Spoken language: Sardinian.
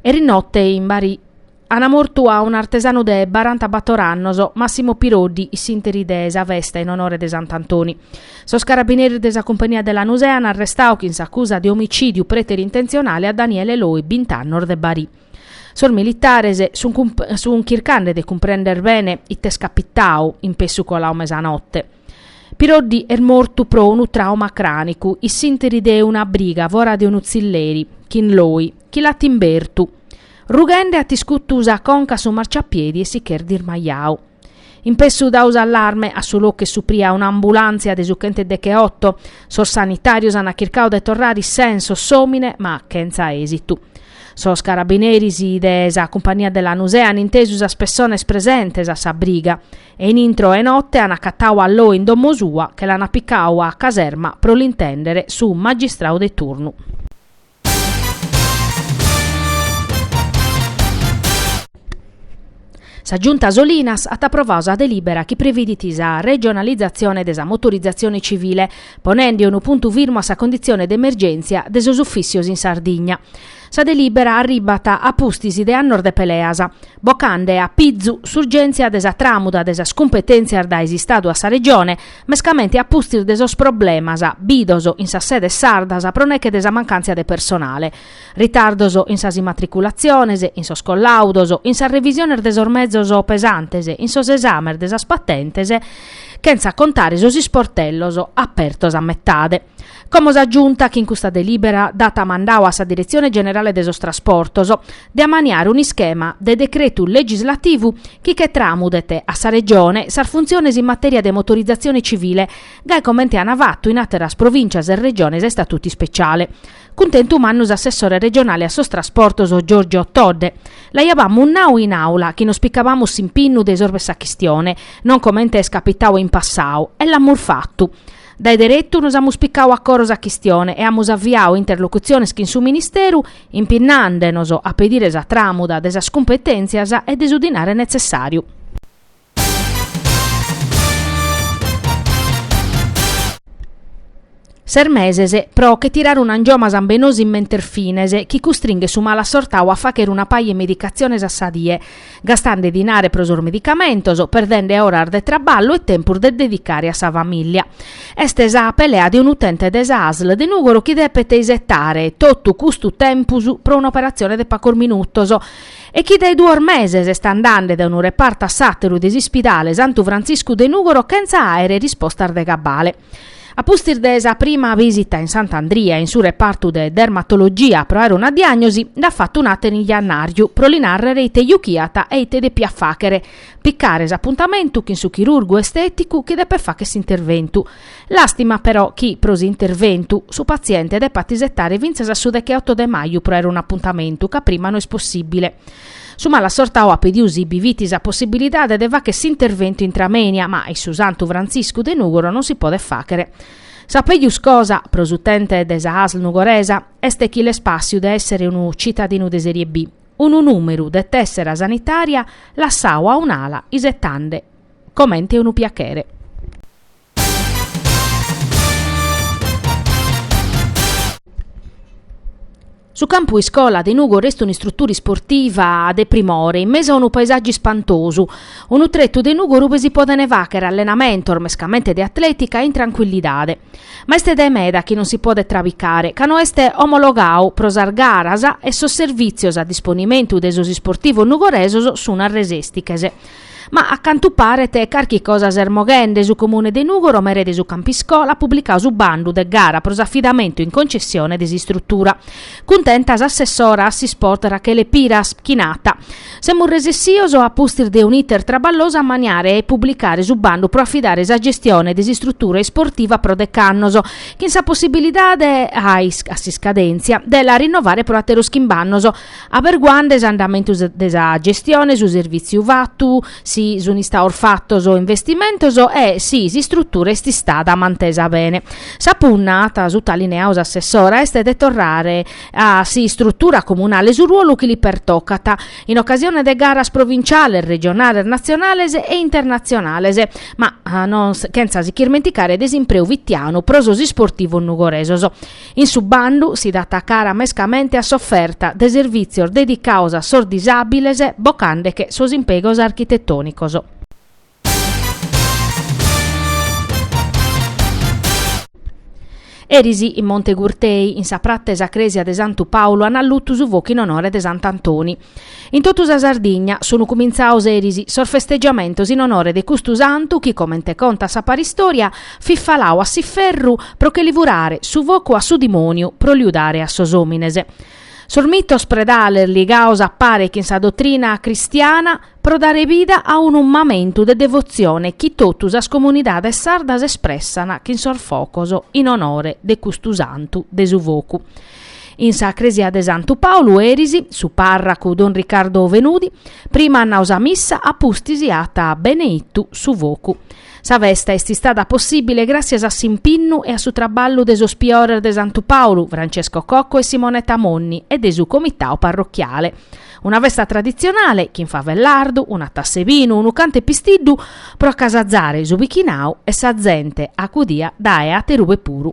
Erinotte in Bari ana mortu a un'artesanu de barantabator annos, Massimo Piroddi, in s'interi de sa festa in onore de Sant'Antoni. Sos carabineris de sa Cumpania de Lanusè an arrestau chin s'acusa de omicìdiu preterintentzionale a Daniele Loi, bint'annos de Bari. Sos militares sun chircande de cumprender bene ite est capitau in pessu colau mesanotte. Piroddi est mortu pro unu trauma crànicu, in s'interi de una briga fora de unu tzilleri, chin Loi, chi l'at imbertu. Rughende at iscutu sa conca a su marciapiedi e si ch'est dismajau. In pessu dau s'allarme, a su locu est supria un'ambulàntzia de su chentedecheotto. Sos sanitàrios ant chircau de torrare in sensos s'òmine ma chentza èsitu. Sos carabineris de sa cumpania de Lanusè ant intesu sas pessones presentes a sa briga e in intro 'e notte an acatau a Loi in domo sua che l'ana picau a caserma pro l'intèndere su magistrau de turnu. Sa Giunta Solinas at aprovau sa delìbera chi previdit sa regionalizatzione de sa motorizatzione civile, ponende unu puntu firmu a sa conditzione de emergèntzia de sos ufìssios in Sardigna. Sa delìbera arribat a pustis de annos de peleas, bocande a pizu s'urgèntzia de sa tràmuda de sas cumpetèntzias dae s'Istadu a sa Regione, mescamente a pustis de sos problemas bidos in sas sedes sardas pro neche de sa mancàntzia de personale, ritardos in sas immatriculatziones, in sos collàudos, in sas revisiones de sos mezos pesantes, in sos esames de sas patentes, chentza contare sos isportellos apertos a metade. Como sa Giunta chin custa delibera dat mandau a sa Diretzione Generale de sos Trasportos de amaniare un'ischema de decretu legislativu chi che tramudet a sa Regione sas funtziones in materia de motorizatzione civile gai comente an fatu in àteras Provìncias e Regiones a istatutu ispeciale. Cuntentu mannu s'Assessore Regionale a sos Trasportos Giorgio Todde. L'aiabamus nau in Àula chi nos picabamus s'impinnu de isorvere sa chistione, non comente est capitau in passau, e l'amus fatu. Dae deretu nos amus picau a coro sa chistione e amus aviau interlocutziones chin su Ministeru, impinnandenos a pedire sa tramuda de sas cumpetèntzias e de su dinare netzessàriu. Ses meses pro che tirare un'angioma sambenosu in mentes fines, chi custringhet su malasortau a faghere una paja 'e medicatziones a sa die. gastande dinare pro sos medicamentos, perdende oras de traballu e tempus de dedicare a sa famìllia. Est sa pelea de un'utente de sa ASL de Nùgoro chi depet isetare totu custu tempus pro un'operatzione de pacos minutos e chi dae duos meses est andande dae unu repartu a s'àteru de s'ispidale Santu Frantziscu de Nùgoro chentza àere rispostas de cabale. A pustis de sa prima visita in Sant'Andria in su repartu de dermatologia pro aere una diagnosi, nd'at fatu un'àtera in jannàriu pro li nàrrere ite juchiat e ite depiat fàchere, picare s'apuntamentu chin su chirurgu estèticu chi depet fàchere s'interventu. Làstima, però, chi, pro s'interventu, su patziente depat isetare fintzas a su deche-oto de maju pro aere un'apuntamentu ca prima no est possìbile. Su malasortau at pediu si bi fit sa possibilidade de facher s'interventu intramoenia, ma in su Santu Frantziscu de Nùgoro non si podet fàchere. Sa pejus cosa, pro s'utente de sa Asl nugoresa, est chi l'est pàssiu de èssere unu citadinu de serie B, unu nùmeru de tèssera sanitària lassau a un'ala isetande comente unu piachere. Su campu iscola de Nùgoro est un'istrutura isportiva de primore, in mesu a unu paesàggiu ispantosu. Unu tretu de Nùgoro ube si podene fàchere allenamentos, mescamente de atletica, in tranquillidade. Ma est dae meda chi non si podet trabicare, ca no est omologadu pro sas garas e sos servìtzios a disponimentu de sos isportivos nugoresos sun a resèstiches. Ma a cantu paret carchi cosa s'est moghende, su Comune de Nùgoro mere de su campu iscola at publicau su bandu de gara pro s'afidamentu in concessione de s'istrutura. Cuntenta s'assessora a s'isport Rachele Piras, chi nat, Semus resessios a pustis de un'iter traballosu a ammaniare e publicare su bandu pro afidare sa gestione de s'istrutura isportiva pro dech'annos, chin sa possibilidade, a s'iscadèntzia, de la rinnovare pro àteros chimb'annos. Aberguande s'andamentu de sa gestione, su servìtziu fatu, si sunt istaos fatos investimentos e si s'istrutura est istada mantesa bene. Sa punna, at sutalineau s'assessora, est de torrare a s'istrutura comunale su ruolu chi li pertocat, in ocasione de garas provinciales, regionales, natzionales e internatzionales, ma no chentza si ch'irmenticare de s'impreu fitianu pro sos isportivos nugoresos. In su bandu si dat cara mescamente a s'oferta de servìtzios dedicados a sos disàbiles bocandeche sos impegos architetònicos. Eris in Monte Gurtei, in sa prata 'e sa crèsia de Santu Pàulu, an allutu su focu in onore de Sant'Antoni. In totu sa Sardigna sun cumintzaos eris sos festegiamentos in onore de custu santu chi, comente contat sa paristòria, fit falau a s'iferru pro che li furare su focu a su dimòniu pro liu dare a sos òmines. Sos mitos predales ligaos a pare chin sa dotrina cristiana pro dare bida a unu mamentu de devotzione chi totu sas comunidades sardas espressan chin sos focos in onore de custu santu de su focu. In sa cresia de Santu Paulu eris, su parracu don Riccardo Fenudi, prima at nau sa missa a pustis at beneittu su focu. Sa festa est istada possibile gràtzias a s'impinnu e a su traballu de sos priores de Santu Paulu, Francesco Cocco e Simonetta Monni e de su comitau parrochiale. Una festa traditzionale, chin fava e lardu, una tassa 'e binu, unu cantu 'e pistiddu, pro acasazare su bichinau e sa zente acudia dae aterube puru.